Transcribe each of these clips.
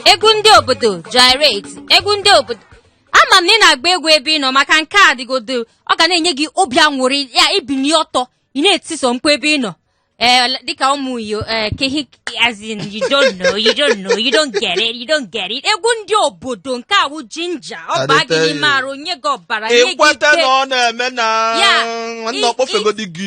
egwu ndị obodo gyrate egwu ndị obodo ama m na ị na-agba egwu ebe ị nọ maka nke a dịgodo ọ ga na-enye gị obi anwụrị ya ibili ọtọ ị na-etiso mkpu ebe ị nọ Eh, dịka ụmụ iyo eh, kehi as in you don't know you don't know you don't get it you don't get it egwu ndị obodo nke a wụ jinja ọ baa gị n'ime arụ nye gị ọbara nye gị ike ịkweta na ọ na-eme na nwanne ọkpọfegodi gị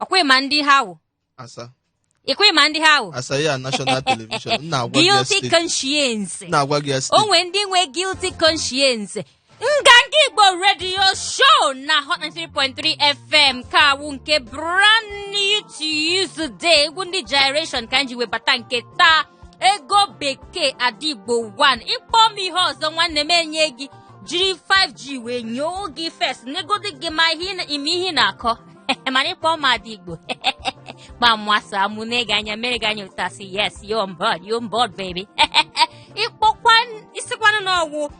ọkwa ịma ndị ha wụ asa ịkwa ịma ndị ha wụ asa ya national television m na-agwa gị ya guilty steady conscience m na-agwa gị ya o steady nwee ndị nwee guilty conscience nganga igbo radio show na hot 93.3 fm ka a wụ nke brand new to you today egwu ndị generation ka anyị ji webata nke taa ego bekee ada igbo 1 ịkpọ m ihe ọzọ nwanne m enye gị jiri 5g wee nyoo gị first negodi gị ma ihe ị na- ime ihe ị na-akọ mana ịkpọ m ada igbo gba mwasa mụ na-ege anya mere gị anya ụtasị yes you're on board you're on board baby ịkpọkwa isikwanụ n'ọgwụ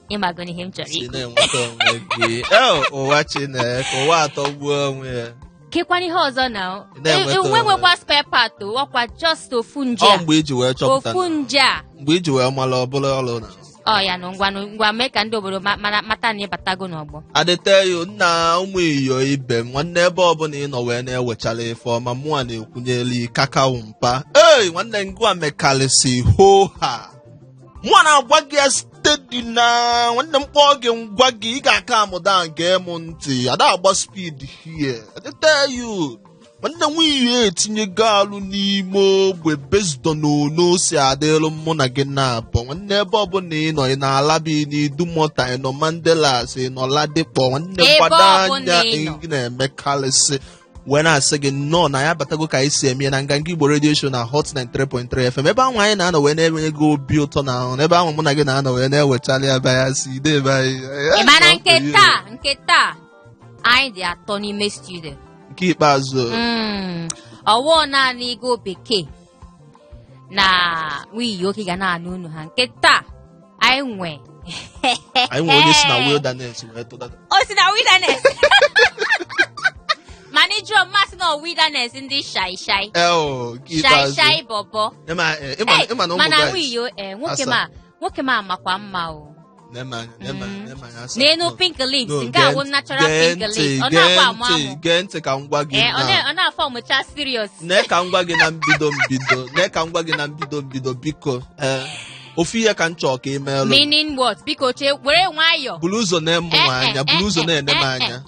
ịmago n'ihe m chọrọ si ikwu na-enweta onwe gị Eh, ụwa chineke ụwa atọgbuo onwe ya kekwana ihe ọzọ na o. Ị na-enweta enwe onwe. nwekwa spare part o, ọkwa just ofu nje ọ a mgbe iji wee chọpụta ofu na- nje a mgbe iji wee mara ọ bụla ọlụ na ọ ya nụ ngwa nụ ngwa mee ka ndị obodo ma- mara mata na ịbatago n'ọgbọ adeteyo nna ụmụ iyo ibe m nwanne ebe ọbụla ị nọ wee na-ewechara ife ọma mụa na-ekwunyeli kakao mpa ei nwanne ngwa mekalịsi hoha mụa na-agwa gị ya steady na nwanne m kpọọ gị ngwa gị ị ga-aka amụda nke m ntị ada agba speed here adeteyo nwanne nwunye etinye gaalụ n'ime ogbe bezdo na ono si adịrụ mụ na gị na-abụ nwanne ebe ọbụla ị nọ ị nọ alaba n'idumota ị nọ mandelas ị nọ ladipo nwanne Ebe gbado ọbụla anya ị nọ. ị na-emekarịsị wee na-asị gị nnọọ na ya batago ka anyị si eme ya na nganga igbo radio show na hot 93.3 fm ebe ahụ anyị na-anọ wee na-enye gị obi ụtọ na ahụ ebe ahụ mụ na gị na-anọ wee na-ewechara ya baya si ide ebe anyị Ị mara nke taa nke taa anyị dị atọ n'ime studio nke ikpeazụ Mm, ọwụọ naanị ego bekee na nwiyo ka ị ga na-anụ ọnụ ha nke taa anyị nwe anyị nwere onye si na wilderness wee tụdata o si na wilderness mana ịjụọ mmasị na wilderness ndị shai shai eo nke shai ikpeazụ shai bọbọ ịma eh, ịma- Hey, ịma na ụmụ mana guys nwiyo eh, nwoke asaa. ma nwoke ma makwa mma o Nee m anya, nee m anya, nee m anya, asa. n'elu No, pink lips no, nke a gee wụ ntị, natural gee pink ntị, lips ọ gee na-agba amụ ntị, amụ gee ntị ka m gwa gị ee ọ na- na- ọ na-afọ ọ mụcha serious nee ka m gwa gị na mbido mbido nee ka m gwa gị na mbido mbido biko ee ofu ihe ka m chọọ ka ị meelụ m. meaning what biko chee were nwayọọ buru ụzọ na-ene m anya buru ụzọ na-ene m anya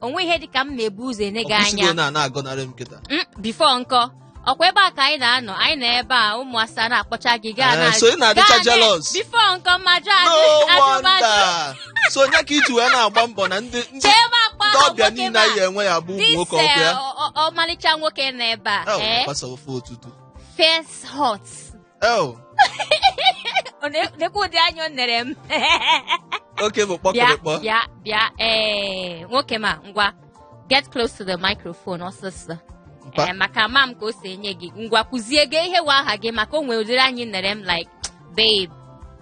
o nwe ihe dị ka m na-ebu ụzọ ene gị ọkwụsịgo anya na na-agọnarị m kịta Mm, before nkọ ọkwa ebe a ka anyị na-anọ anyị nọ ebe a ụmụ asa na-akpọcha gị gaa Eh, na so ị na-adịcha jealous? before nkọ ọma jụ no ajụ ajụbajụ wonder so onye ka i ji wee na-agba mbọ na ndị ndị chee ma akpa ndị ahụ ọbịa nwoke niile ma anyị enwe ya bụ ụmụ this nwoke ọkụ ya eh, ọ- ọ- ọmalịcha nwoke na ebe a Eh, eh, gbasa ofe ụtụtụ fierce hot Oh, Ọ na- Nekwa ụdị anya o nere m. okay, bụ Bịa, kpọkịrịkpọ. bịa, bịa. Ee, nwoke ọma, ngwa. Get close to the microphone ọsịsọ. Mpa. Ee, maka ama m ka o si enye gị. Ngwa kwuzie gị ihe wụ aha gị maka o nwere ụdịrị anya i nere m like, babe,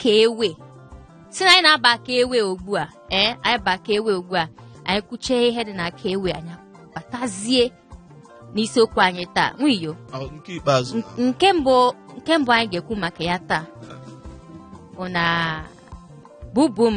ka ewe sị na anyị na-aba ka ewe ugbu a ee eh, anyị ba ka ewe ugbu a anyị kwuchie ihe dị na ka ewe anyị abatazie n'isiokwu anyị taa nwiyo nke mbụ nke mbụ anyị ga-ekwu maka ya taa bụ na bubu m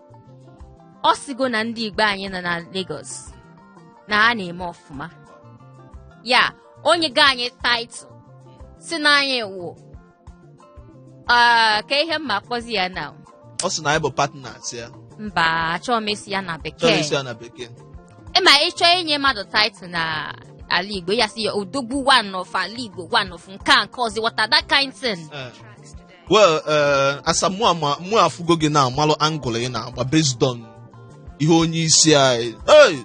ọ sịgo na ndị Igbo anyị nọ na Lagos na ha na-eme ọfụma ya enyego anyị title sị na anyị wụ ah, ka ihe m ma kpọzi ya na ọ sị na anyị bụ partners ya mba achọọ m ịsị ya na chọrọ bekee ịsị ya na bekee ị ma ị chọọ inye mmadụ title na ala Igbo ya sị ya odogwu one of ala Igbo one of nke a nke ọzọ wọta that kind thing Eh, well eh, asa mụ ama mụ afụgo gị na amalụ angle ị na-agba based on ihe onye isi anyị hey!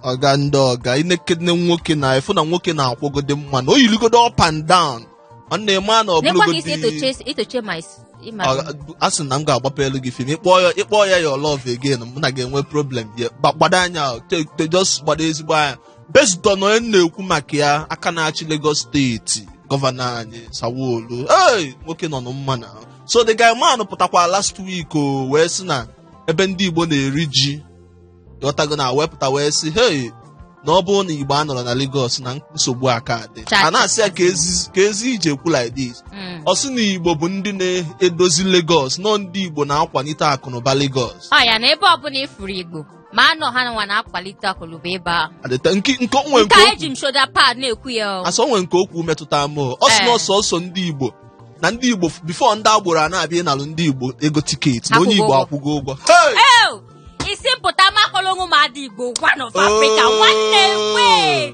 ọga ndị ọga i nekene nwoke na efu na nwoke na-akwụgodi mma na o yirigodi up and down ọ na-eme na nekwa ka i si ọ bụlụgodi etoche etoche ma is- ịma a sị na m ga-agbapelu gị fim ị kpọọ ya ị kpọọ ya your love again mụ na gị ga-enwe problem bịa Gba- gbado anya o, te- te- just gbado ezigbo anya based on onye na-ekwu maka ya aka na-achị Lagos steeti gọvanọ anyị Sanwo-Olu ee nwoke nọ na mma na so the guy man pụtakwa last week o wee sị na ebe ndị Igbo na-eri ji ị ghọtago na o wee pụta wee sị hey na ọ bụrụ na Igbo anọrọ na Lagos na nsogbu aka adị Cha- a na-asị ya ka ezi- ka ezi ije ekwu like this Mm. ọ sị na Igbo bụ ndị na-edozi Lagos na ọ ndị Igbo na-akwalite akụnụba Lagos ọ ya na ebe ọbụla ị fụrụ Igbo ma na ọ ha nwa na-akwalite akụnụba ebe ahụ Adịta nke nke o nwere nke nke a o eji m shoulder pad na-ekwu ya o. asa o nwere nke okwu metụta m o. ọ sị na Ee. ọ sọsọ ndị Igbo na ndị Igbo before ndị agboro a na-abịa ịnalụ ndị Igbo ego tiketi na onye Igbo akwụgo ụgwọ Hey! Ew! isi mpụta makpọrọ onwe m ada Igbo one of Africa nwanne wee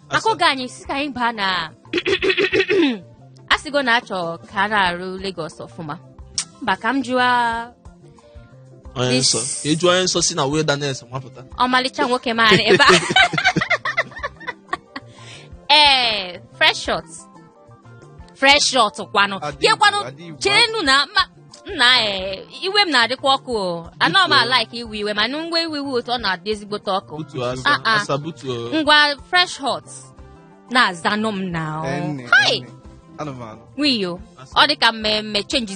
maka oge anyị si ka anyị baa na asịgo na achọ ka a na-arụ Lagos ọfụma mba ka m jụọ onye nsọ ka ịjụ onye nsọ si na wilderness wapụta ọmalịcha nwoke maara ebe a ee fresh shot fresh shot kwanụ Adị ya kwanụ Igbo, adị Igbo. cherenụ na ma nna ee iwe m na-adịkwa ọkụ o anọ m Biko. alaik iwe iwe mana ngwa iwe iwe otu ọ na-adị ezigbote ọkụ butu asa Ah, ah. asa butu o. ngwa fresh hot na-azanụ m na Nne, Hi! nne. anụmanụ nwiyo Asa. ọ dị ka mmemme chenji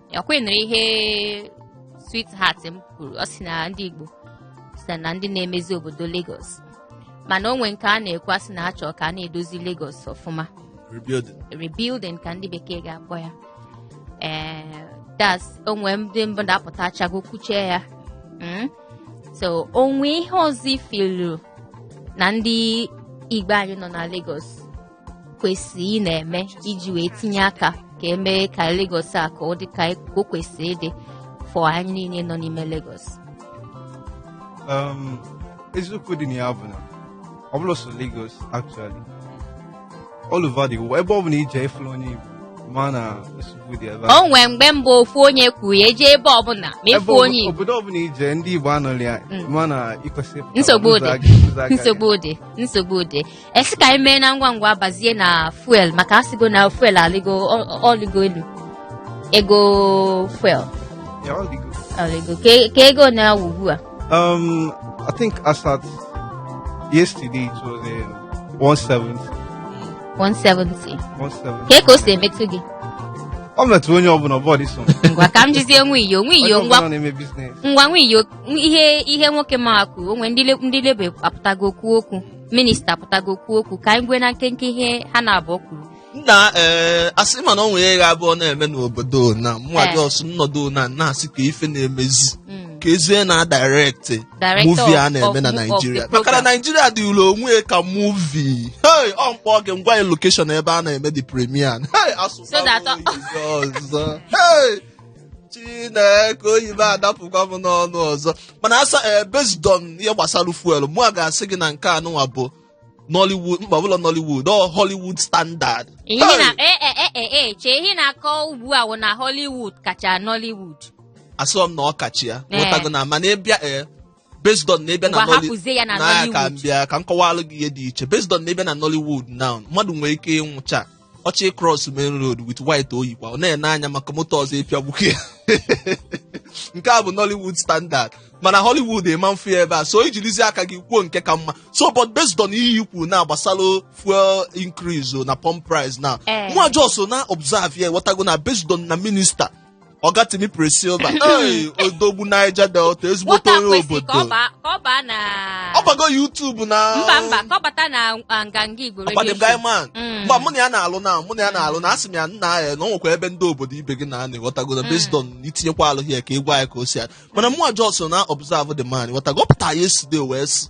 ọkwa ịnụrụ ihe sweetheart m kwuru ọ sị na ndị Igbo so na ndị na-emezi obodo Lagos mana o nwe nke a na-ekwu asị na achọ ka a na-edozi Lagos ọfụma rebuilding ka ndị bekee ga-akpọ ya ee eh, that's o nwe ndị mbada apụtachago kwuchie ya hmm? so o nwe ihe ọzọ i feel-u na ndị Igbo anyị nọ na Lagos kwesịrị ị na-eme iji wee tinye aka ka e mee ka Lagos a ka ọ dị ka o kwesịrị ịdị for anyị niile nọ n'ime Lagos um, eziokwu dị na ya bụ na ọ bụrọ sọ Lagos actually all over the world ebe ọ bụla i je ị fụrụ onye Igbo o nwee mgbe mbụ ofu onye kwuru ya e je ebe ọbụla ma ịfụ onye Igbo obodo ọbụla i je ndị Igbo anọrị ya mm. mana ikwesị nsogbu dị nsogbu dị nsogbu dị asị ka anyị mee na ngwa ngwa bazie na fuel maka asịgo na fuel alịgo ọ- ọ- ọlịgo elu ego fuel Yeah, ọlịgo. ọlịgo ka ka ego na-awụ ugbu a Um, I think as at yesterday it was um, 170. 170 170. ka ka o si emetụ gị Ọ metụrụ onye ọbụla ọ bọ dị sọ. ngwa ka m jizie nwa iyo nwa iyo Onye ngwa ọbụla na-eme business. ngwa nwa iyo ihe ihe nwoke m a kwuru o nwe ndị le- ndị labour apụtago kwuo okwu minista apụtago kwuo okwu ka anyị gee na nkenke ihe ha na-abụọ kwuru nna ee asị m na o nwere ihe ga-abụ ọ na-eme n'obodo na mụnwa Eh. just nọdụ ana na-asị kee ife na-emezi Mm. keezi onye na-adirect-ị Director movie a of- na-eme na of- of the naijiria maka na program. naijiria dịụlụ onwe ya ka movie hey ọ mkpọ oge ngwa ya location ebe a na-eme the premiere hey asụsụ So that- ọzọ hey chineke oyibo adapụkwa m n'ọnụ ọzọ mana asa ee based on ihe gbasara fuel mụwa ga-asị gị na nke a nụnwa bụ nollywood mba ọ bụrọ nollywood ọ hollywood standard ihe na e e e e e chee ihe na-akọ ugbu a wụ na Hollywood kacha Nollywood asịrọ m na ọ kacha ya Ee. ghọtago na mana ị bịa ee based on na ị bịa na Ngwa Nolly- hapụzie ya na na ya ka Nollywood. m bịa ka m kọwalụ gị ihe dị iche based on na ị bịa na Nollywood now mmadụ nwere ike ịnwụcha ọ chọọ ịcross main road with white o yikwa ọ na-ene anya maka moto ọzọ ịpịagbukwa ya nke a bụ Nollywood standard mana Hollywood ị ma afụ ya ebe a so i jirizi aka gị kwuo nke ka mma so but based on ihe i kwuru na gbasara fuel increase o na pump price na Eh. mụwa just na-observe ya ghọtago na based on na minista ọga Timipre Sylva ee odogwu Niger Delta ezigbote nwata onye kwesị ka ọ obodo baa ka ọ baa na ọ bago YouTube na mba mba ka ọ bata na ah, nganga igbo radio Abadem show. Guy Man. Mm. mgbe mụ na ya na-alụ na mụ na ya na-alụ na asị m ya nna ya na ọ nwekwa ebe ndị obodo ibe gị nọ ị ghọtago na based on i tinyekwa alụ ya ka ị gwa ya ka o si ya mana mụwa just na-observe the man ghọtago ọ pụta yesterday wee sị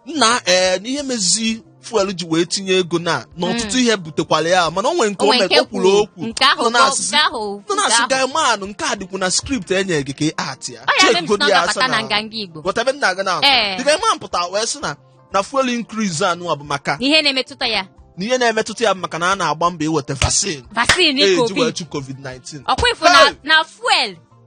nna ee na ihe mezi fuel ji wee tinye ego na na ọtụtụ ihe butekwara ya mana o nwere nke o onwe mere nke o kwuru kwuru okwu nke ahụ nọ na-asịsị- nke ahụ nọ nke na-asị ahụ guy man nke a dịkwu na script enye gị ka ị act ya ọ ya mere m si Check na ọ godi ya ga-abata asa na na- nganga igbo Ghọta ebe m na-aga na Ee. the guy man pụta wee sị na na fuel increase anụwa bụ maka ihe na-emetụta ya na ihe na-emetụta ya bụ maka na a na-agba mbọ iweta vaccine vaccine e ji wee covid chụ covid-19 ọkwa ị fụ na Hey! na fuel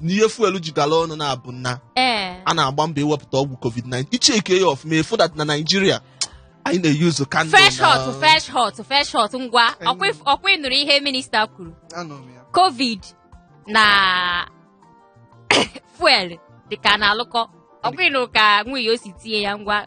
na ihe fuel ji gala ọnụ na-abụ nna ee a na-agba mbọ iwepụta ọgwụ covid-19 ị check ya ọfụma ị fụ that na naijiria anyị na-use candle fresh na- hot fresh hot fresh hot ngwa ọkwa if- ọkwa ị nụrụ ihe minista kwuru Anọ m ya. covid na fuel dịka na-alụkọ ọkwa ị nụrụ ka nwunye o si tinye ya ngwa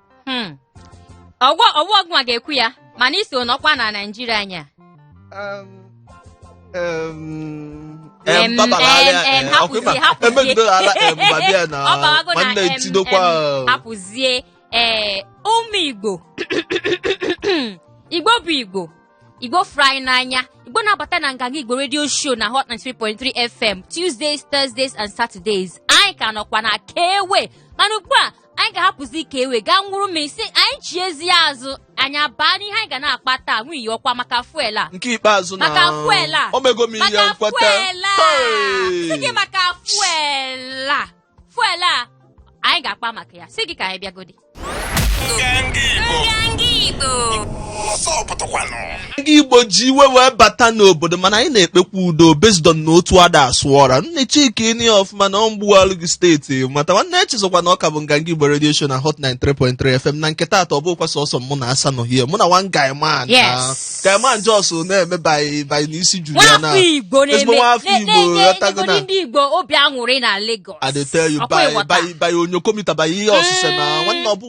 Hmm. ọgwọ ọgwọ ọ gịnwa ga-ekwu ya mana i so nọkwa na naijiria anya Um, um, Em, em, babara em, ala, em, eh, hapụzie, ọkwa ịma, hapụzie. emegidere ala, em, babịa na ọ bawago na nwanne em, etidokwa em, hapụzie ee ụmụ igbo igbo bụ igbo igbo fụrụ anyị n'anya igbo na-abata na nganga igbo radio show na hot 93.3 fm tuesdays thursdays and saturdays anyị ka nọkwa na kewe mana ugbu a anyị ga-ahapụzi kewe gaa ṅụrụ mmiri si anyị chiezie azụ anyị abaa n'ihe anyị ga na-akpa taa nwunye ọkwa maka fuel a nke ikpeazụ na maka fuel a o mego m ihe maka nkweta fuel a Hey! si gị maka fuel a fuel a anyị ga-akpa maka ya si gị ka anyị bịagodi Nganga Igbo. Nganga Igbo. Ọzọ pụtakwanụ. ndị igbo ji iwe wee bata n'obodo mana anyị na-ekpekwa udo based on na otu ada asụ ọra nne chika ini ọfụma na ọmgbughalụ gị state matter nwanne echezọkwa na ọ ka bụ nganga igbo radio show na hot 93.3 fm na nke taata ọ bụkwa sọsọ mụ na asa nọ hie mụ na one guy man na- Yes. guy man just na-eme by by n'isi juru ya na nwafọ igbo ezigbo na-eme nwafọ na- igbo na-enye ghọtago na enyegodi ndị igbo obi aṅụrị na Lagos I dey tell you Ọkwa by ịghọta? by by onyokomita by ihe ọsịsa na nwanne ọ bụ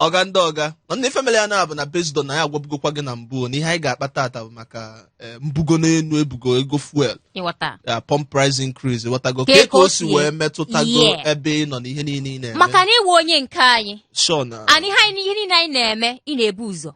ọga ndị ọga mana ife mere ya na-abụ na based on na anyị agwabugokwa gị na mbụ na ihe anyị ga-akpa tata bụ maka eh, mbugo n'enu e bugo ego fuel ị ghọta ya pump price increase ghọtago Ka ka ego ka o si si- wee metụtago Yeah. ebe ị nọ na ihe niile ị na-eme maka na ị wụ onye nke anyị sure na and ihe anyị ihe niile anyị na-eme ị na-ebu ụzọ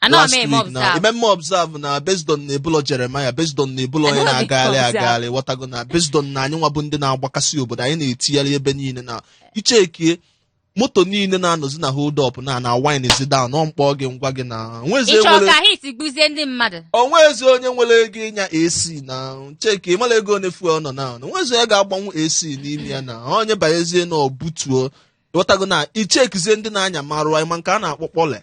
Anọ m last eme week na observe. ime mme observe na based on na ebulọ Jeremiah based on na ebulọ onye Anọ m eme na-agagharị observe. agagharị ghọtago na based on na anyị nwa bụ ndị na-agbakasị obodo anyị na-etigharị ebe niile na ị checkie moto niile na-anọzi na hold up na na wind zi down ọ mkpọ gị ngwa gị na o nwezi Ịchọ nwere ka heat gbuzie ndị mmadụ. o nwezi onye nwere ego ịnya AC na checkie ị mara ego one fuel nọ na o nwezi onye ga-agbanwu AC n'ime ya na onye banyezie na o butuo ghọtago na ị checkizie ndị na-anya maruwa anyị ma nke a na-akpọ kpọle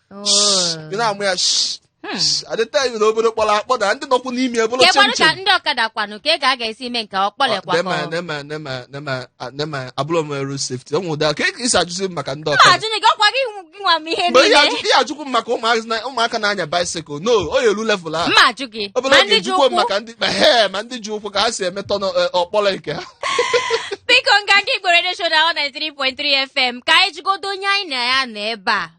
ị na-amụ ya shh, Hmm. shh. I dey tell you na obodo kpọrọ akpọ na ndị nọkwu n'ime ya bụrụ kekwanụ ka chimchim ndị ọkada kwanụ ka ego a ga-esi ime nke ọ kpọlekwa Nema, ka ọ- nema, nema, nema, ah, nema, abụrụ m road safety ụmụ ụda ka ị si ajụzi m maka ndị Ọ ọkada ajụ gị ọkwa gị nwa m ihe mgbe ihe niile ajụ- ihe ajụkwu m maka ụmụazị na- ụmụaka na-anya bicycle no o yelu level a mma ajụ gị obere ma oge ndị ji ejikwo m ụkwụ maka ndị ma he ma ndị ji ụkwụ ka ha si emetọ n'ọ- eh, ọkpọrọ nke ha biko nganga igbo radio show na 93.3 fm ka anyị jụgodo onye anyị na ya nọ ebe a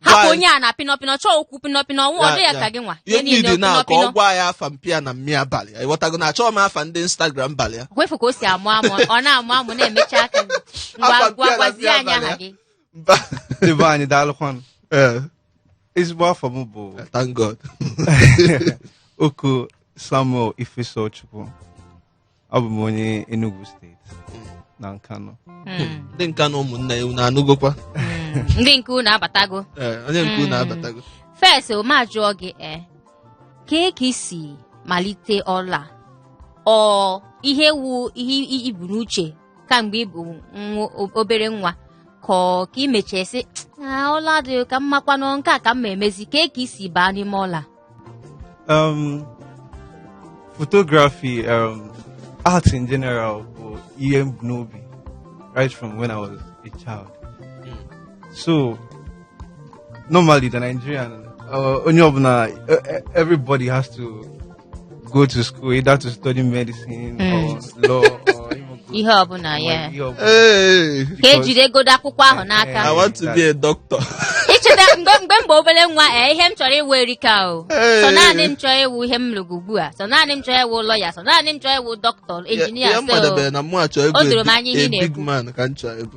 hapụ onye a na pinọpinọ chọọ okwu pinọpinọ nwa ọ dị ya ka gị nwa ihe niile na ka ọ gwa anyị afa mpa ya na mma ya balị ya ị ghọtago na achọghị m afa ndị instagram balị ya kwefu ka o si amụ amụ ọ na-amụ amụ na-emecha aka ngwa gwa gwazie anyị aha gị mba ebe anyị daalụkwanụ ezigbo afa m bụ eh, ThankGod Oko Samuel Ifesochukwu abụ m onye Enugu steeti na Nkanu Mm, ndị Nkanu ụmụnna ya unu anụgokwa mm. ndị nke unu abatago Ee, onye nke unu Mm. abatago first m ajụọ gị e kee ka i si malite ọlụ a ọ ihe wu ihe i- i bu n'uche kamgbe ị bụ nwa- o- obere nwa ka ọ- ka i mechesi ọlụ a dị ka mmakwanụ nke a ka m ma emezi kee ka i si baa n'ime ọlụ a um, photography um, art in general bụ ihe m bu n'obi right from when I was a child so normally the Nigerian uh, onye ọbụla uh, everybody has to go to school either to study medicine Mm. or law or even go ihe ọbụla ya ihe ọbụla. Hey, ka Because- e jidegodo akwụkwọ ahụ n'aka I want to be a doctor. i cheta mgbe mgbe mgbe obere nwa ee ihe m chọrọ ịwụ erika o Hey. sọ naanị m chọọ ịwụ ihe m lụrụ ugbu a sọ naanị m chọọ ịwụ lọya sọ naanị m chọọ ịwụ dọkịta injinia Ihe m so madebere na mụ achọ o doro m anya ịbụ ihe a ị big na-ekwu. man ka m chọọ ịbụ.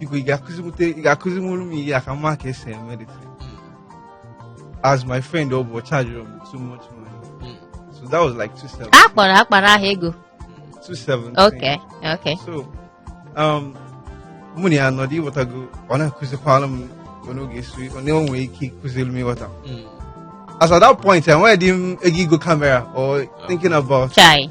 biko ị ga-akụziwute ị ga-akụzinwuru m ihe a ka m ma ka esi eme this thing. as my friend ọ bụ charge m too much money so that was like two seven a kpọrọ akpara ahụ ego two seven okay okay so um mụ na ya nọdụ ịghọtago ọ na-akụzikwara m onye oge esu ọ na nwere ike ịkụziri m ịghọta as at that point enweghịdị m ego igo kamera or thinking about chai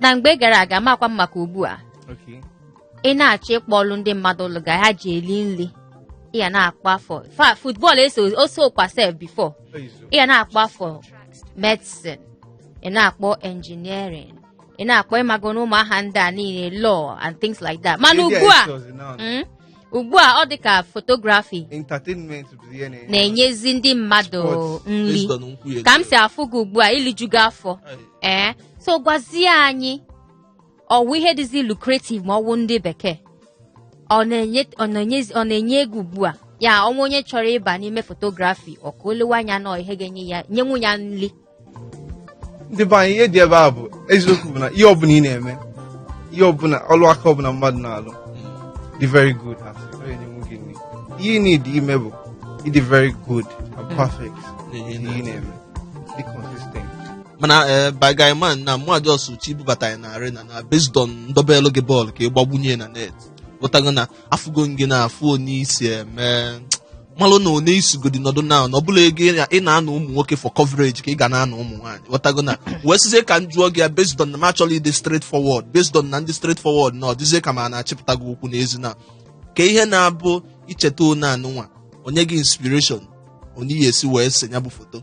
na mgbe gara aga amakwa m maka ugbu a Okay. ị na-achọ ịkpọ ọlụ ndị mmadụ lụga ha ji eli nri ị ya na-akpọ afọ fa football o sokwa sef before ị ya na-akpọ afọ medicine ị na-akpọ engineering ị na-akpọ ịmago n'ụmụ aha ndị a niile law and things like that mana ugbu a mm, ugbu a ọ dị ka photography entertainment bụ ihe na-enye na-enyezi ndị mmadụ Sports. nri Based on nkwu ya ka m ego. si afụ gị ugbu a i lijugo afọ Ai, ee so gwazie anyị ọ wụ ihe dịzi lucrative ma ọ wụ ndị bekee ọ na-enye ọ na-enyezi- ọ na-enye ego ugbu a ya ọ nwee onye chọrọ ịba n'ime photography ọ ka o lewe anya na ọ ihe ga-enye ya nyenwu ya nri ndị be anyị ihe dị ebe a bụ eziokwu bụ na ihe ọbụla ị na-eme ihe ọbụla ọlụ aka ọbụla mmadụ na-alụ dị very good at it. Ọ ga-enyenwu gị nri. ihe ị need ime bụ ịdị very good and perfect n'ihe ị na-eme dị consistent mana ee my guy man na mmadụ ọsụ chi bubata ya na arena na based on m dobelu gị bọọlụ ka ị gbagbunye na net ghọtago na afụgo gị na afụ onye i si eme malụ na onye i sugodi nọdụ na ọ bụrọ ego ị na- ị na-ana ụmụ nwoke for coverage ka ị ga na-ana ụmụ nwaanyị ghọtago na wee sịzie ka m jụọ gị ya based on na m achọrọ ịdị straight forward based on na m dị straight forward na ọ dịzie ka m na-achịpụta gị ụkwụ n'ezi na kee ihe na-abụ i cheta onye anụnwa o nye gị inspiration onye i si wee se ya bụ foto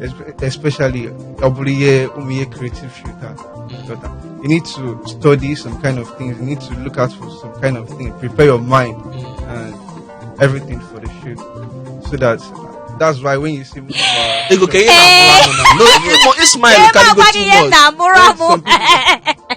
espe- especially Obuliye Umiye Creative Shooter. Shooter. You need to study some kind of things. You need to look out for some kind of thing. Prepare your mind and everything for the shoot, so that that's why when you see me, uh, Ego ka ihe na-amụrụ amụ na. No, ịmụ- ịsmile Ebe karịgo agwa gị too ihe much. na-amụrụ amụ. Some people-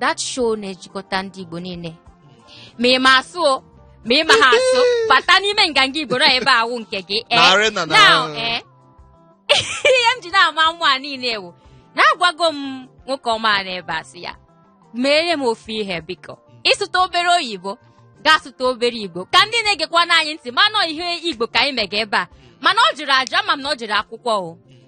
that show na-ejikọta ndị Igbo niile ma ị ma asụ o ma ị maha asụ bata n'ime Nganga Igbo na ebe a wụ nke gị ee Na arena na- now, ee ihe m ji na-ama mmụ a niile wụ na agwago m nwoke ọma a n'ebe a sị ya meere m ofu ihe biko ị sụta obere oyibo gị asụta obere igbo ka ndị na-egekwanụ anyị ntị ma na ọ ihe igbo ka anyị mega ebe a mana ọ jụrụ ajụ ama m na o jere akwụkwọ o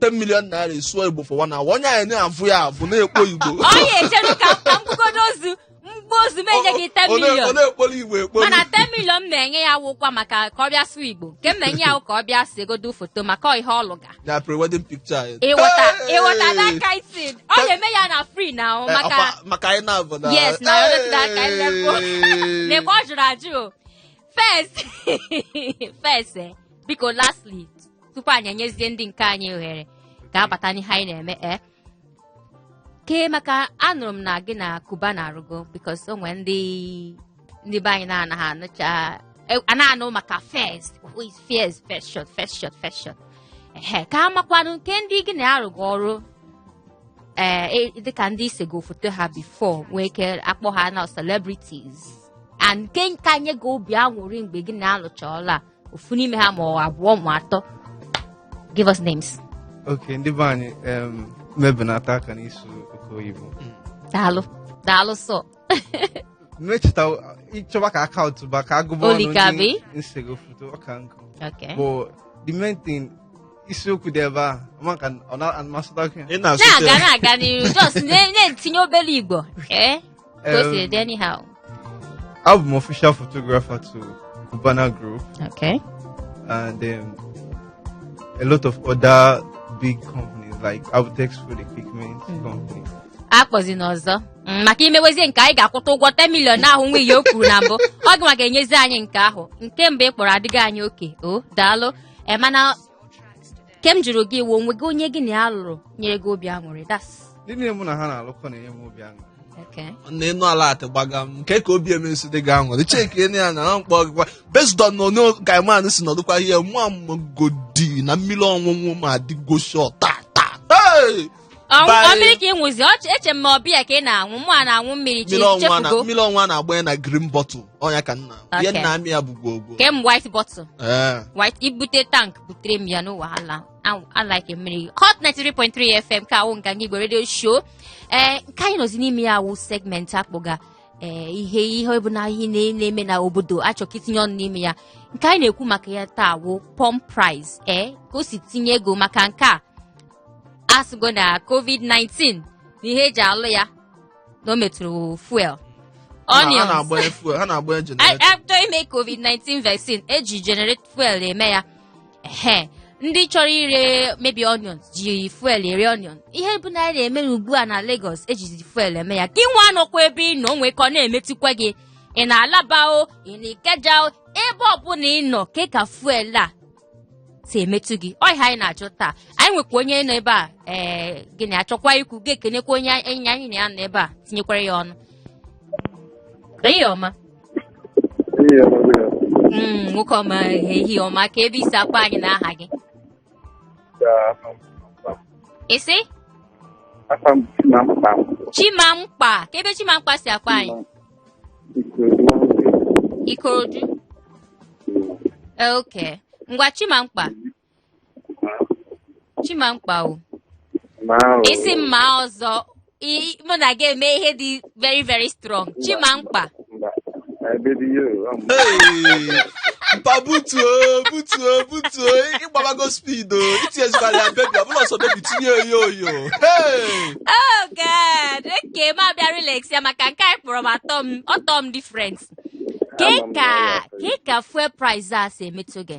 10 million naira ị sụọ igbo for one hour onye anyị na-avụ ya avụ na-ekpo igbo oya chere ka ka m gbugodo ozu m gbuo ozu m enye gị 10 Ọ na- ọ million na-ekporo igbo ekporo mana 10 million m na-enye ya wụkwa maka ka ọ bịa sụọ igbo nke m na-enye ya wụ ka ọ bịa segodo foto maka ọ ihe ọ lụga na pre-wedding picture anyị. ịghọta Hey! ịghọta that kind thing ọ na-eme ya na free now ọ Eh, maka ọkwa- maka anyị na-avụ na Yes, na ọ dịtụla aka anyị na-ekwu. Hey! na-ekwe ọ jụrụ ajụ o first first eh, biko lastly tupu anyị enyezie ndị nke anyị ohere ka ha bata n'ihe anyị na-eme e kee maka anụrụ m na gị na Cubana arụgo because o nwere ndị ndị be anyị na-anaghị anụcha e, a na-anụ maka fes fes feshọn feshọn feshọn ehe ka a makwanụ nke ndị gị na ha rụgo ọrụ ee eh, e, dịka ndị i sego foto ha before nwee ike akpọ ha na celebrities and nke ka nye gị obi aṅụrị mgbe gị na ya lụcha ọlụ ofu n'ime ha ma ọ abụọ ma atọ give us names okay ndị be anyị em, ma belata aka n'ịsụ oke oyibo daalụ daalụ sọ emechita ị chọba ka a kaụntụba ka a gụba ọnụ Olikabi? ndị m sego foto ọka nkụ okay but the main thing isiokwu dị ebe a ama ka ọ na-amasịta gị ị na-asụte na-aga na-aga n'iru just na- na-etinye obere igbo ee ka o si dị anyhow abụ m official photographer to Cubana Group okay and um, a lot of other big companies like Abtex Food Equipment mm. Company. akpọzina ọzọ mm, maka i mewezie nke anyị ga-akwụta ụgwọ 10 million ahụ nwa ihe o kwuru na mbụ ọ gị nwa ga-enyezi anyị nke ahụ nke mbụ ị kpọrọ adịghị anyị okay o daalụ e mana nke m jụrụ gị iwu onwe gị onye gị na ya lụrụ nyere gị obi aṅụrị that's ndị niile mụ na ha na-alụkọ na-enye m obi aṅụrị Okay. na ịnụ ala atị gbaga m nke ka obi emensi dị gị aṅụrị cheki ene ya na na mkpọ gịkwa based on na onye guy man si nọdụkwa ihe mụwa amagodi na mmiri ọṅụṅụ m adịgo sure taa ta ta Hey! ọnwụ Bye. ọ mmiri ka ị ṅụzi ọchị eche m ma ọ beer ka ị na-aṅụ mụwa na-aṅụ mmiri chi mmiri ọnwa na- chefugo mmiri ọnwa na-agba ya na green bottle ọ ya ka nna ihe Okay. nna amị ya bụ gwogwo ke m white bottle Ee. white i bute tank butere m ya no wahala Aṅụ- I like mmiri hot 93.3 fm nke a wụ Nganga igbo radio show ee nke anyị nọzi n'ime ya wụ segment a kpọga ee ihe ihe ọbụna ihe na- na-eme na obodo a chọ ka i tinye ọnụ n'ime ya nke anyị na-ekwu maka ya taa wụ pump price ee ka e si tinye ego maka nke a a sịgo na covid-19 na ihe e ji alụ ya na o metụrụ fuel Ha na- ha onions na-agbanye fuel ha na-agbanye generator a chọ ime covid-19 vaccine e ji generate fuel eme ya ehe ndị chọrọ ire maybe onions ji fuel ere onion ihe ọbụna anyị na-eme ugbu a na Lagos e jizi fuel eme ya gị nwa nọkwa ebe ị nọ nwee ka ọ na-emetụkwa gị ị nọ Alaba o ị nọ Ikeja o ebe ọbụla ị nọ kee ka fuel a si emetụ gị ọ ihe anyị na-achọ taa anyị nwekwa onye nọ ebe a ee gị na-achọkwa ikwu gị ekenekwa onye enyi anyị na ya nọ ebe a tinyekwara ya ọnụ ehihie ọma Mm, nwoke ọma ehihie ọma kee ebe i si akpọ anyị na aha gị ị sị afa m Chimamkpa. chimamkpa kee ebe Chimamkpa si akpọ anyị Ikorodu ok ngwa Chimamkpa Chimamkpa o isi mma ọzọ mụ na gị eme ihe dị very very strong Chimamkpa mpa butuo butuo butuo ị gbabago speed o itinyezikwara ya bebi ọbụla ọsọ bebi tinye oyo oyo Hey! Oh God! Okay, ma bịa relax ya maka nke anyị kpọrọ m atọ m ọtọ m different. Ke Ama m na ka ya kee ka fuel price a si emetụ gị?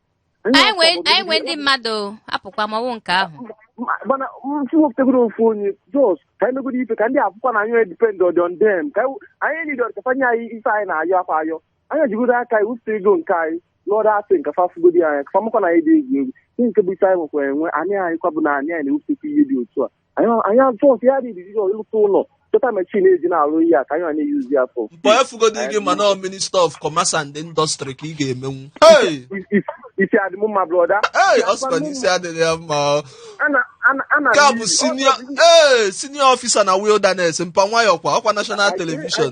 anyị nwee anyị nwee ndị mmadụ o, apụkwa ma ọ wụ nke ahụ mana msi wepụtagoro ofu onye just ka anyị megoro ife ka ndị akwụkwọ na anyị depend on on them ka anyị- anyị niile ọ dị ka fa nye anyị ife anyị na-ayọkwa ayọ anyị ejigodo aka anyị wepụta ego nke anyị lụọ ọrụ asị nke fa fụgodi anyị ka fa makwa na anyị dị egwu egwu ihe nke bụ ife anyị nwekwa enwe anyị anyị kwa bụ na anyị anyị na-ewepụtakwa ihe dị otu a anyị atụ ọsị ya dị idizi ịlụta ụlọ chọta machine eji na-arụ ihe a ka anyị na-eyuzi ya fọ mgbe efugodi gị ma na minister of commerce and industry ka ị ga-emenwu isi adị m mma brother ee ọ sịkwa na isi adịghị ya mma ka bụ senior ee senior officer na wilderness mpa nwayọ kwa ọkwa national television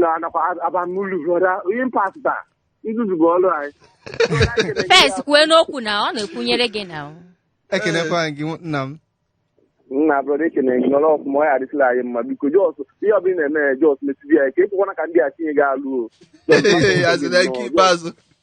na anakwa aba n'ụlọ brother onye mpasta nzuzu bụ ọrụ anyị Pes kwue n'okwu na ọ na-ekwunyere gị na ekenekwa gị nna m nna brother ekene gị nọrọ ọfụma ọ ya-adịsịla anyị mma biko just ihe ọbụla ị na-eme ya just mesibe ya ike ekwekwana ka ndị a tinye gị alụ o Ee, asị na nke ikpeazụ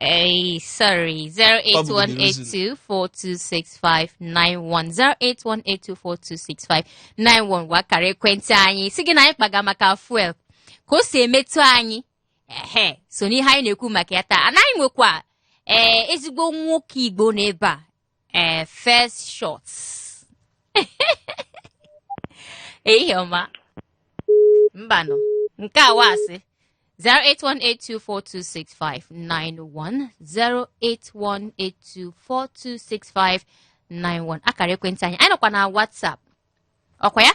Hey, sorry. 08182 426591. 08182 426591. Wụ akara ekwentị anyị. Sị gị na anyị kpaga maka fuel. Ka o si emetụ anyị. Ehe, so n'ihe anyị na-ekwu maka ya taa. Anyị nwekwa ee ezigbo nwoke Igbo n'ebe a. eh, first shots. Iheọma. Mbanụ. Nke a wasị. 08182426591 08182426591 akara ekwentị anyị anyị nọkwa na WhatsApp ọkwa ya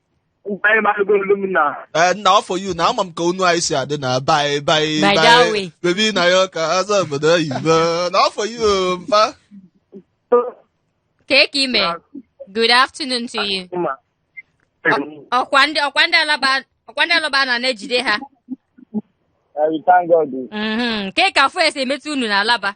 Anyị marụgo olu m na Eh, na wa for you na ama m ka onu anyị si adị na bai bai By that way. bebi na ya ka azọ obodo oyibo na wa for you o, mpa Kee ka ị mee? Good afternoon to you. ma Ọkwa ndị ọkwa ndị Alaba ọkwa ndị Alaba na na-ejide ha. I will thank God. Mhm. Kee ka fuel si emetụ unu na Alaba?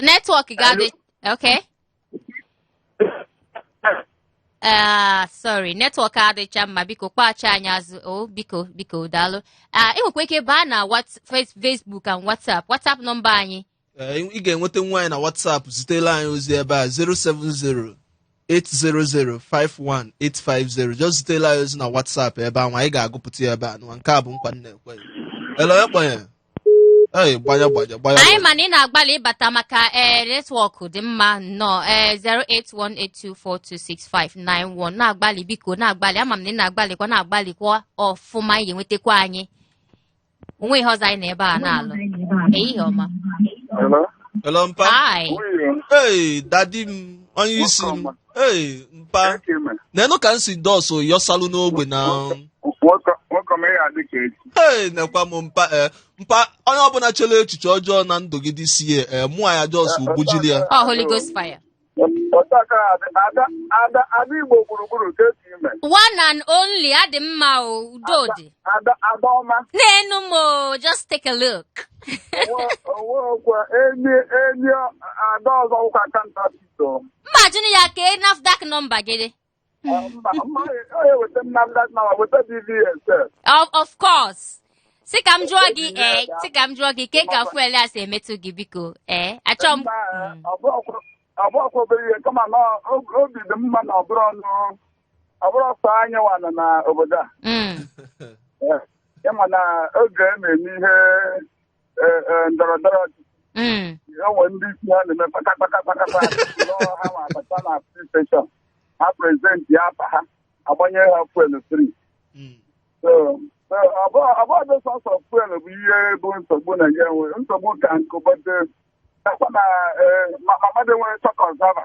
network ga-adị okay Ah, sorry network adịcha mma biko kpọghachi anyị azụ o biko biko daalụ Ah, ị nwekwa ike baa na Whats- Face- Facebook and WhatsApp WhatsApp number anyị Ee, ị ga-enweta nwa anyị na WhatsApp zitela anyị ozi ebe a 070-800-51850 just zitela anyị ozi na WhatsApp ebe ahụ anyị ga-agụpụta ya ebe a nwa nke a bụ nkwa m na-ekwe ele onye kpọnye ee gbanye gbanye gbanye anyị ma na ị na-agbalị ịbata maka ee netwọk dị mma nnọọ ee 08182426591 na-agbalị biko na-agbalị ama m na ị na-agbalịkwa na-agbalịkwa ọfụma ị ga-enwetakwa anyị onweghị ihe ọzọ anyị nọ ebe a na-alụ ehihie ọma Hello? Hello, mpa. hi Nwunye, Hey, dadi m, onye isi m. Nwoke Hey, mpa. eke ime. Nenụ ka m si just yọsalụ n'ogbe na. Nwoke nwoke m ya dị ka echi. Hey, nekwa m mpa. Eh, mpa, onye ọbụla chere echiche ọjọọ na ndụ gị this year, mụ a ya just gbujiri ya. ọ holy ghost fire otu a ka ọ dị ada ada ada igbo gburugburu ka esi ime one and only adị mma o Udodị ada ada ọma nenụ m o just take a look Onwe- onwe ọkwa enyi enyi ada ọzọ wụkwa counterfeit o mma jụrụ ya kee nafdac nọmba gị of course sị ka m jụọ gị ee eh, sị ka m jụọ gị kee ka fuel a si emetụ gị biko ee eh, achọ m ọbụrọkwa obere ihe kama na obi dị mma na ọbụrọ ọnụ ọbụrọ sọ anyị nwa nọ na obodo a hmm. eh, ịma na oge a na-eme ihe eh, eh, ndọrọ ndọrọ ọchịchị Mm. onwe ndị isi ha na-eme kpatakpata kpatakpa nọọ ha ma abata na filin steshọn ha prezentịa afa ha agbanye ha fuelu fri So, so, ọ bụ- ọ bụrọdị sọsọ fuelu bụ ihe bụ nsogbu na ya nwe nsogbu ka nkụ but ọkwa na eh, ma- ma mmadụ nwere chọọ ka ọ survive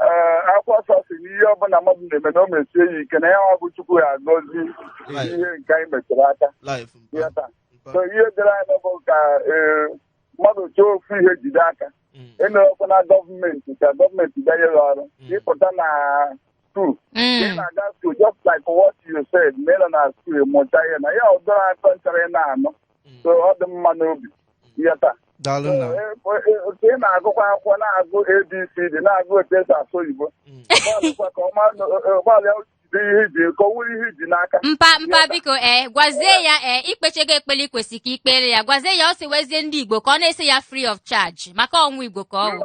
ee akwụkwọ nsọ sị na ihe ọbụla mmadụ na-eme na o mesie ya ike na ya wa bụ chukwu ya-agọzi ihe nke anyị metụrụ aka Life. ya taa so ihe dịrị anyị bụ ka ee, mmadụ chọọ ofu ihe jide aka Mm. enerọkwa na gọọmenti ka gọọmenti bịa nye gị ọrụ ịpụta na skul ị Mm. na-aga skul just like what you said na ị nọ na skul mụta ihe na ya ọ dịrọ ata nchara ị na-anụ Mm. so ọ dị mma n'obi yata daalụ nna m. otu ị na-agụkwa akwụkwọ na-agụ abcd na-agụ otu esi asụ oyibo Mm. gbalịkwa ka ọma gbalịa jide ihe iji ka ọ wụrụ ihe iji n'aka mpa mpa biko ee gwazie ya ee ikpechago ekpele ikwesị ka ikpere ya gwazie ya ọ sị wezie ndị igbo ka ọ na-ese ya free of charge maka ọnwụ igbo ka ọ wụ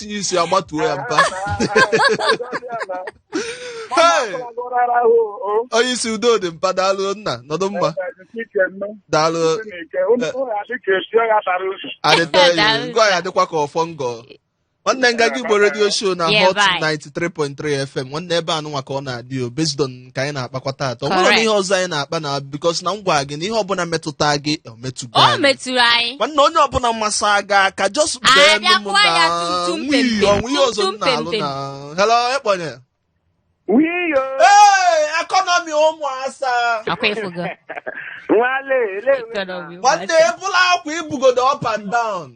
tinye isi agbatuo ya mpa Hey! onye isi Udodị mpa daalụ nna nọdụ mma daalụ adịtọghị Daalụ. ngọ ya adịkwa ka ọfọ ngọ nwanne Nganga Igbo redio show na Yeah, hot bye. 93.3 fm nwanne ebe anụnwa ka ọ na-adị o based on nke anyị na-akpakwa taata ọ nwere Correct. ihe ọzọ anyị na-akpa na because na m gwara gị na ihe ọbụla metụta gị ọ metụgo o anyị. metụrụ anyị nwanne onye ọbụla mmasị aga aka just Anyị bee nụ m abịakwuo ya na tumtum nwii pempem, o nwe ihe ọzọ m tumtum na-alụ pempem. na hello ekponye Wiyo, ee ekọnọmi ụmụ asa akwa ịfụgo nwale, ele Economy, nwanne ebula akwa ibugodo up and down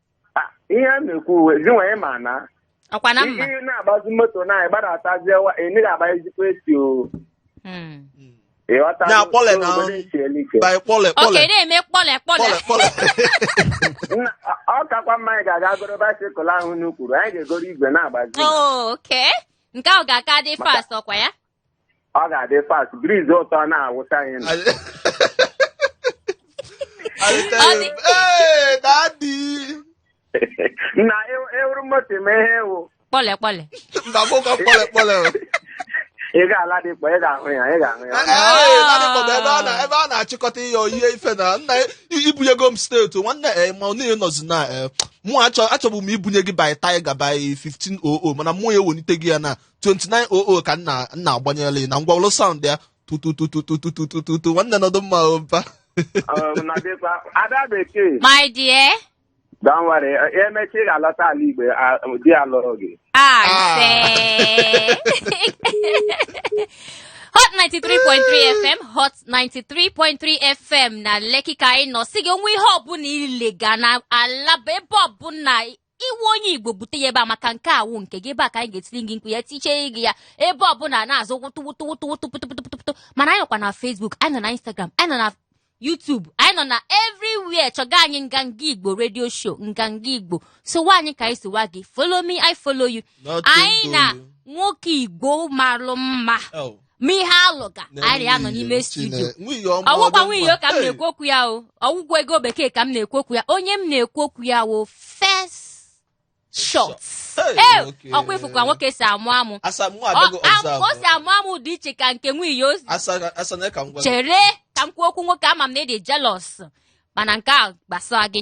Ah, ihe a na-ekwu uwe gị nwanyị ma na ọkwa na mma ihe na-agbazi moto na ịgbadatazie wa ị naghị agba ezigbo AC o Mm. ịghọta Ya, kpọle na- obodo esiela ike. by kpọle okay kpọle na-eme kpọle kpọle kpọle kpọle Nna, ọ- ọ kakwa mma anyị ga-aga goro bicycle ahụ unu kwuru anyị ga-egoro igwe na-agbazi Oh, okay nke ahụ ga-aka dị fast ọkwa ya ọ ga-adị fast breeze ụtọ na-awụsa anyị n'ahụ. I dey tell Ọ you, dị- hey, daddy. na ew- ewuru moto mee ihe ewu kpọle kpọle Mba, mụ ka kpọle kpọle o. ị ga-ala dị kpọ ị ga-ahụ ya ị ga-ahụ ya Ee, daddy kpọrọ ebe a na- ebe a na-achịkọta ihe oyie ife na nna i- ibunyego m steeti o, nwanne ee ma onye nọzi na ee mụ achọ achọbụ m ibunye gị by tiger by 1500 mana mụ ya ewelite gị ya na 2900 ka nna nna agbanyela na ngwa ụlọ sound ya tututututututututu nwanne nọdụ mma oba Um, na dịkwa ada bekee My dear, don't worry emechaa ị ga-alọta ala Igbo a- di ya lụrụ gị I Ah. say. Hot 93.3 FM, Hot 93.3 FM na Lekki ka anyị nọ. Sị gị o nwee ihe ọbụla ị lega na Alaba ebe ọbụla ị wụ onye Igbo bute ya ebe a maka nke a wụ nke gị ebe a ka anyị ga-etiri gị mkpu ya tichee gị ya ebe ọbụla na-azụ wụtụ wụtụ wụtụ wụtụ pụtụ pụtụ pụtụ pụtụ mana anyị nọkwa na Facebook anyị nọ na Instagram anyị nọ na YouTube anyị nọ na everywhere chọga anyị Nganga Igbo radio show Nganga Igbo sowa anyị ka anyị sowa gị follow me I follow you Not anyị na Tongolo. nwoke Igbo malụ mma Oh. ma ihe alụ ka anyị anọ n'ime studio ọ wụkwa Wiyo ka m na-ekwu okwu ya o ọ wụkwa Ego Bekee ka m na-ekwu okwu ya onye m na-ekwu okwu ya wụ first shot ee ọkwa ị fụkwa nwoke si amụ amụ o si amụ amụ dị iche ka nke Wiyo chere ka m kwuo okwu nwoke ama m na ị dị jealous mana nke a gbasara gị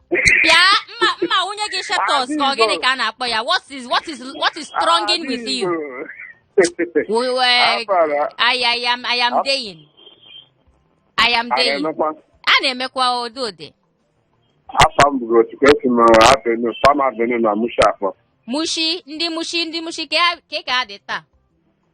bịa mma mma nwunye gị shetos ka ọ gịnị ka a na-akpọ ya what is what is what is stronging with you we were Afara, I, I am I am deying I am a deying na-emekwa a na-emekwa ụdị ụdị afa m bụrụ otu ka esi m abenu fam abenu na mushafọ Mushin ndị Mushin ndị Mushin ka ka ka a dị taa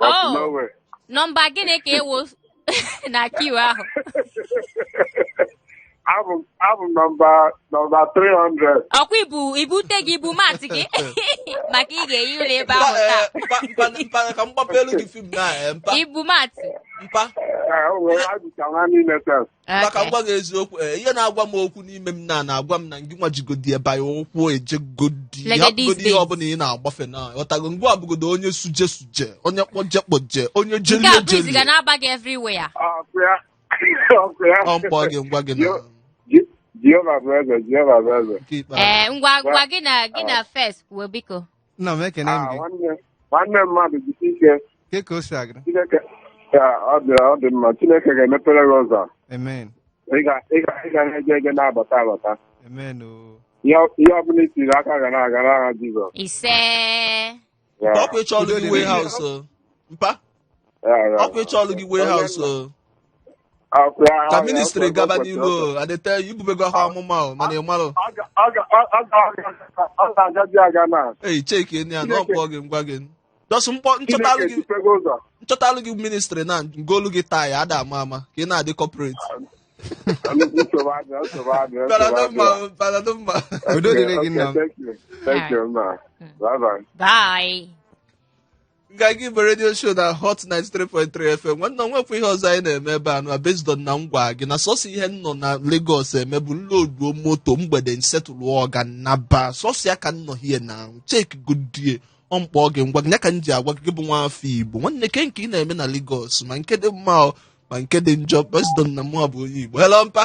Oh, nọmba gịnị ka ị wụ na queue ahụ abụ nọmba nọmba 300 ọkwa i bu i bu ute gị i bu mat gị maka ị ga-ehi ụla ebe ahụ taa eh, ka m gbapelu gị film na eh, mpa i bu mat mpa eh, maka m gwa gị eziokwu ee ihe na-agwa m okwu n'ime m na na-agwa m na ngị nwa jigodi ebe ahụ ụkwụ ejegodi Like hapụgodi these ihe days. ọbụla ị na-agbafe na ọtago ngwa abụgodo onye suje suje onye kpọje kpọje onye nke jelie a breeze ga jelie na-aba gị everywhere ọkụ ya ọkụ ya ọ m kpọọ gị m gwa gị na Yo- Ji- Jehova bụ eze Jehova bụ eze nke ikpeazụ ee ngwa ngwa gị na gị na first kwuo biko nna m ekene m Ah, gị nwanne nwanne mmadụ jisi ike ke ka o si agara chineke ya ọ dị ọ dị mma chineke ga-emepere gị ụzọ amen ị ga- ị ga- ị ga na-eje eje na-abata abata amen o ihe ọ- ihe ọbụla i tiri aka ga na-aga n'aha jizọs ise Ya. ọkwa ịchọlụ Udo dị gị n'ihe. warehouse o. mpa ọkwa ịchọlụ gị warehouse o ka ministry gaba n'ihu o adịte i bubego ha amụma o mana ị marụ ọ ga-agazi aga na e checkie enyi ya na ọ kpọọ gị m gwa gị dọsụ mkpọ m chọtalụ Chineke gị dịpego ụzọ m chọtalụ gị ministry na m golu gị tie ada ama ama ka ị na-adị corporate Nnukwu nsogbu adịla, nsogbu adịla, nsogbu adịla. mma baradụ mma Udo dịrị gị, Okay, nna m. thank you. Thank you, ma. Bye-bye. Bye. nga gị bụ radio show na hot 93.3 fm nwanne m nwekwa ihe ọzọ anyị na-eme ebe a na based on na m gwa gị na sọsọ ihe m nọ na Lagos eme bụ m loduo moto mgbede m settle ọga naba sọsọ ya ka m nọ here na check godie ọ m kpọọ gị m gwa gị ya ka m ji agwa gị bụ nwa afọ Igbo nwanne ke nke ị na-eme na Lagos ma nke dị mma o, ma nke dị njọ based on na mụwa bụ onye Igbo hello mpa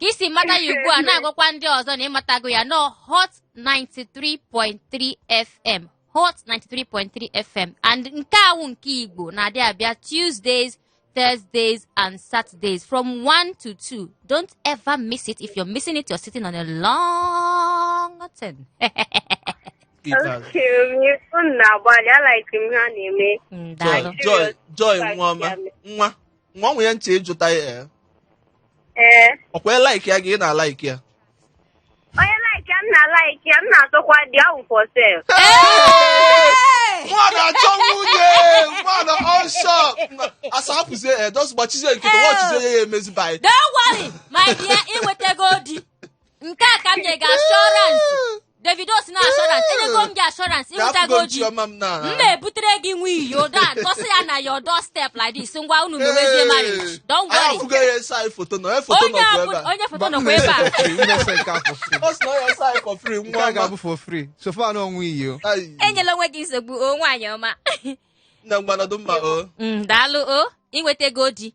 ka i si mata ya ugbu a na-agwakwa ndị ọzọ na ị matago ya na ọ hot 93.3 fm hot 93.3 fm and nke a wụ nke igbo na-adị abịa tuesdays thursdays and saturdays from 1 to 2 don't ever miss it if you're missing it you're sitting on a long thing Okay, unu na-agbalị a like m ha na-eme. Mm, Joy, daalụ. Joy, Joy, nwa ọma, nwa. nwa nwe ya ntị ị jụta ya ee. ee ọkwa ya like ya gị ị na-alike ya onye like ya m na like ya m na-atụkwa dị ahụ for sale mụwa na-achọ nwunye mụwa na-achọ asa hapụzie ee those gbachizie nkịta wọchizie ya ya emezi buy Don't worry, my dear, ị nwetago di. nke a ka m nye gị assurance Davido si na assurance enyego m gị assurance i nwetago di m na-ebutere gị nwa iyi odo a tọsị ya na your doorstep like this ngwa unu mewezie marriage don't worry onye foto nọkwa ebe a enyela onwe gị nsogbu o nwaanyị ọma nna ngwa nọdụ mma o daalụ o i nwetago di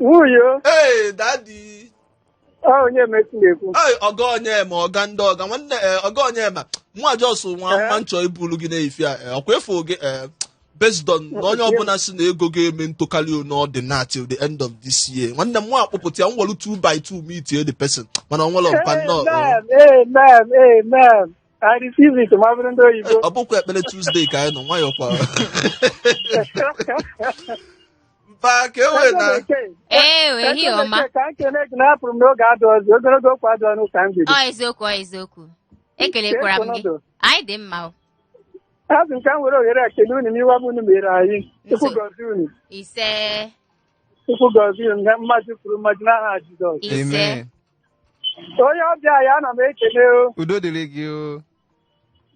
Nwunye o, ee daddy ọ onye mesi na-ekwu. Ee, ọga Onyema ọga ndị ọga nwanne ee, ọga Onyema nwa just nwa Ee. nwa nchọ ibulu gị n'ife a ee, ọkwa efu gị ee, based on na onye ọbụla si na ego ga-eme ntụkarị n'ọdịna till the end of this year nwanne m nwa akpụpụta ya nwere 2 by 2 meet the person mana ọ nwere mpa nnọọ ee. Amen, amen, amen. I receive it, ma bụrụ ndị oyibo. ọ bụkwa ekpere Tuesday ka anyị nọ nwayọọ kwa mba ka e wee na Ewe, ehihie ọma. ka m kene gị na apụrụ m na oge adịrọzị ogologo okwu adịrọ n'ụka mgbede Ọ eziokwu, ọ eziokwu. Ekelekwara m gị. Anyị dị mma o. asị m ka m were ohere a kele unu n'ihe ọma unu mere anyị Chukwu Nso. gọzie unu Ise, Chukwu gọzie unu na mmadụ kwuru mmadụ n'aha Jizọs ise. Amen. onye ọbịa anyị ana m ekele o udo dịrị gị o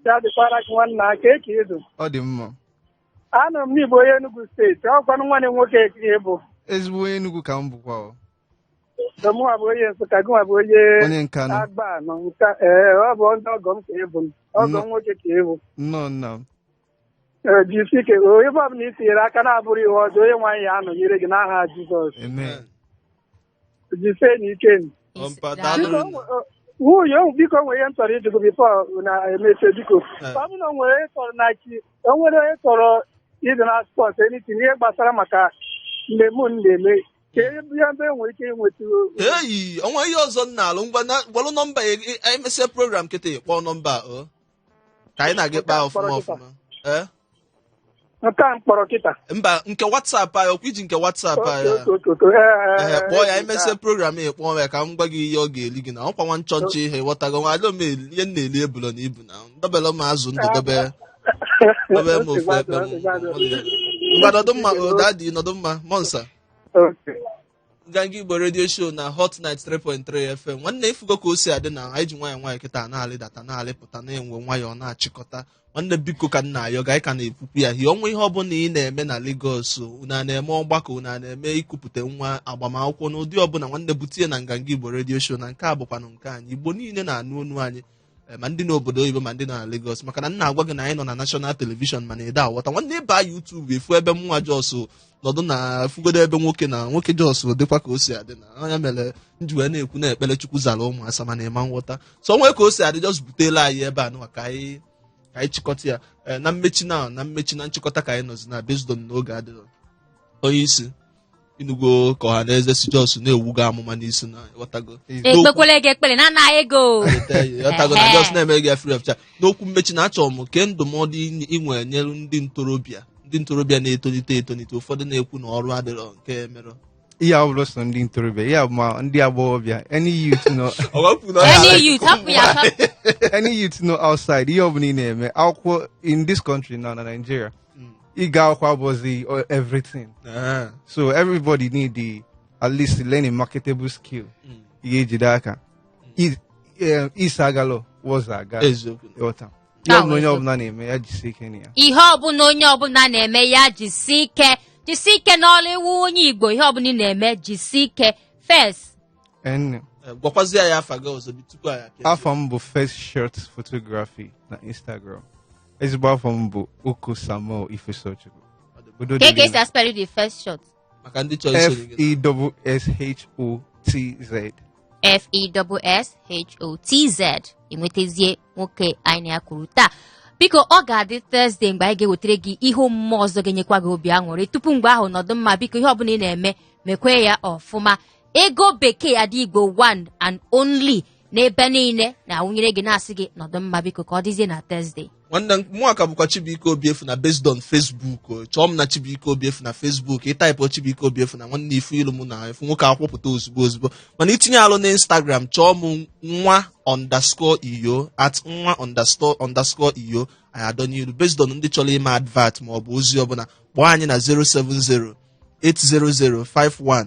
ya dịkwara gị nwanna kee ka ị dụ ọ dị mma anụrụ m na ị bụ onye Enugu steeti ọkwanụ nwanne m nwoke ka ị bụ ezigbo onye Enugu ka m bụkwa o. mụnwa bụ onye Nsụka gịnwa bụ onye onye Nkanụ Agbanị Nkanụ ee ọ bụ ndị ọgọ m ka ị bụ ọgọ m nwoke ka ị bụ nnọọ nna m Ee, jisi ike o ebe ọbụla i tinyere aka na-abụrọ ihe ọjọọ Onyenwe anyị ya anọnyere gị n'aha Jizọs amen jisie na ike nụ. Ọ mpa Isi- daalụ Biko, nne. o- nwunye o- biko nwere ihe m chọrọ ịjụ gị before na emechie biko Eh. ọ bụrụ na o nwere onye chọrọ na chi o nwere onye chọrọ ịdị na support anything ihe gbasara maka mmemme unu na-eme kee ebe enwere ike ịnweta eyi o nwere ihe ọzọ m na-alụ ngwa na- gbalụ nọmba ya, e- e- emesịa program kịta kpọọ nọmba a, o ka anyị na gị kpaa ọfụma ọfụma ee nke a m kpọrọ kịta mba nke whatsapp anyị ọkwa i ji nke whatsapp anyị a? Ee, kpọọ ya emesịa program ị kpọọ ya ka m gwa gị ihe ọ ga-eli gị na ọkwa nwa nchọnchọ ị ghọtago nwa alụ m eli- ihe m na-eli ebula na ibu na dobere m azụ ndụ dobe dobe m ofu ebe ngwa nọdụ mma o daddy nọdụ mma mọnsa Okay. nganga igbo radio show na hot 93.3 fm nwanne ifugo ka o si adị na anyị ji nwayọọ nwayọọ kịta na-alịdata na-alịpụta na-enwe nwayọọ na-achịkọta nwanne biko ka m na-ayọ gị anyị ka na-ekwukwu ya hie o nwee ihe ọbụla ị na-eme na Lagos unu a na-eme ọgbakọ unu a na-eme ikupụta nwa agbamakwụkwọ n'ụdị ọbụla nwanne bute ya na nganga igbo radio show na nke a bụkwanụ nke anyị igbo niile na-anụ onu anyị eh, ma ndị n'obodo oyibo ma ndị nọ na Lagos maka na m na-agwa gị na anyị nọ na national television mana ị da aghọta nwanne ịba YouTube ị fụ ebe mụnwa just nọdụ na fugodo ebe nwoke na nwoke just dịkwa ka o si adị na anya mere m ji wee na-ekwu na ekpere Chukwu zara ụmụ asa mana ịma nghọta so nwee ka o si adị just butela anyị ebe a nụwa ka anyị ka anyị chịkọta ya Eh, na mmechi na na mmechi na nchịkọta ka anyị nọzi na based on na oge adịrọ onye isi ịnụgo ka ọha na eze si just na-ebu gị amụma n'isi na ịghọtago ekpekwele gị ekpele na anaghị ego ịghọtago na just na-eme gị ya free of charge n'okwu mmechi na achọrọ m kee ndụmọdụ ị- ị nwere nyere ndị ntorobịa ndị ntorobịa na-etolite etolite ụfọdụ na-ekwu na ọrụ adịrọ nke mere ihe ọ bụla so ndị ntorobịa ihe ma ndị agbọghọbịa any youth nọ any youth hapụ ya hapụ any youth nọ outside ihe ọ bụla ị na-eme akwụkwọ in this country na na Nigeria ịga akwụkwọ abụzi uh, everything Aha. so everybody need to, at least learn a marketable skill Mm. ị ga-ejide aka I- eh, isi agalọ wọz aga eziokwu ịghọta ihe Ah, ọbụla onye eziokwu. ọbụla na-eme ya jisie ike na ya ihe ọbụla onye ọbụla na-eme ya jisi ike jisi ike n'ọrụ ị wụ onye Igbo ihe ọbụla ị na-eme jisi ike Fess N. Eh, gwakwazi ya afa gị ọzọ bi tupu anyị apụa Afa m bụ Fesshotz Photography na Instagram. Ezigbo afa m bụ Oko Samuel Ifesochukwu. Udo dịrị Kee ka unu. esi aspell the Fesshotz. maka ndị chọrọ isoro gị F-E-S-S-H-O-T-Z. F E double S H O T Z enwetazie nwoke anyị na ya kwuru taa biko ọ ga-adị Thursday mgbe anyị ga-ewetara gị ihe omume ọzọ ga-enyekwa gị obi aṅụrị tupu mgbe ahụ nọdụ mma biko ihe ọbụla ị na-eme mekwaa ya ọfụma Ego Bekee Ada Igbo one and only n'ebe niile na-awụnyere gị na-asị gị nọdụ mma biko ka ọ dịzie na Thursday nwanne m mụwa ka bụkwa Chibuike Obiefuna based on Facebook o. chọọ m na Chibuike Obiefuna Facebook ịtaịpụ Chibuike Obiefuna nwanne ị fụ ilu mụ na efu nwoke akwụpụta ozugbo ozugbo mana itinye alụ na Instagram chọọ m nwa underscore iyo at nwa underscore underscore iyo anyị adọnye ilu based on ndị chọrọ ime advert ma ọ bụ ozi ọbụla kpọọ anyị na 070 800 51